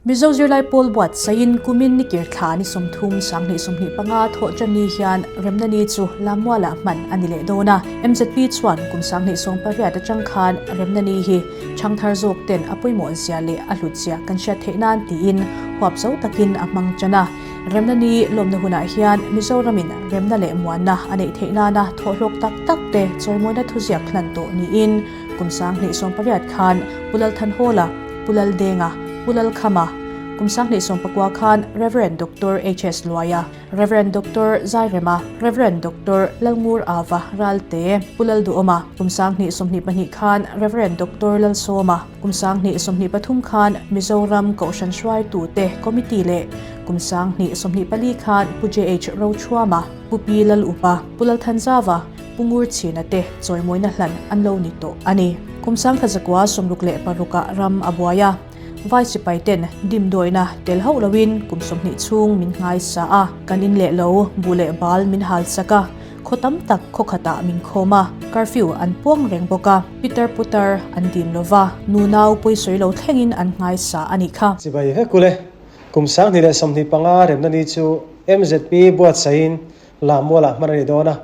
Mizo zirlai pawl buat saiin kumin ni kir thla ni sawm thum sanghnih sawmhnih panga thawh ṭan ni hian remna ni chu lam mualah hman a ni leh dawn a. MZP chuan kum sanghnih sawm pariat aṭang khan remna ni hi ṭhang thar zawk ten a pawimawh zia leh a hlut zia kan hriat theih nan tiin huap zo takin a hmang ṭan a. Remna ni lawmna hunah hian Mizoramin remna leh muanna a neih theih nana thawhlawk tak tak te chawimawina thuziak hlan tawh niin, Kum sang hnih sawm pariat khan Pu Lalthanhawla, Pu Laldenga, Pu Lalkhama, kum sang hnih sawm pakua khan Rev. Doctor HS. Luaia, Rev. Doctor Zairema, Rev. Doctor Lalngur Ava, Ralte, Pu Lalduhawma, kum sang hnih sawm hnih pahnih khan Rev. Doctor Lalsawma, kum sang hnih sawm hnih pathum khan Mizoram Kohhran Hruaitute Committee leh kum sang hnih sawm hnih pali khan Pu JH. Rochuama, Pu Pi Lalupa, Pu Lalthanzava, Pungur chhina te chawimawina hlan an lo ni tawh a ni. Kumsangkha zakua sawmruk leh parruka ram a buai a, vai sipai ten dim dawina tel hauh loin kum sawmhnih chhung min ngai sa a, kan in leh lo, buh leh bal min hal chak a, khaw tam tak khaw khatah min khawm a, curfew an puang reng bawk a, pitar putar an dim lo va, nu nau pawi sawi lo thlengin an ngai sa a nih kha. Chibai vek u le. Kumsanghnih leh sawmhnih panga remna ni chu mzp buatsaih in Lam mualah hman a ni dawn a.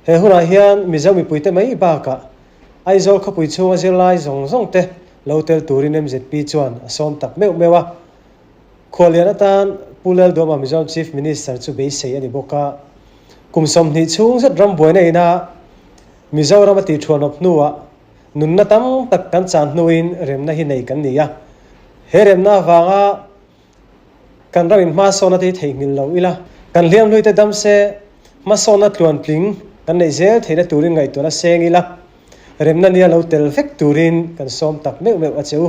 He hunah hian Mizo mipuite mai bakah Aizawl khawpui chhunga zirlai zawng zawngte lo tel turin MZP chuan a sawm tak meuh meuh a. Khualian atan Pu Lal Duama Mizoram Chief Minister chu beisei a ni bawk a. Kum sawmhnih chhung zet ram buaina ina Mizoram a tihthuanawp hnuah nunna tam tak kan chan hnuin remna hi nei kan ni a. He remna avanga. Kan ram in hmahsawhna te hi theihnghilh lo ila, kan hliamhlui te dam se hmahsawhna tluan tling kan neih zel theihna turin ngaihtuahna seng ila, remna nia lo tel vek turin kan sawm tak meuh meuh a che u.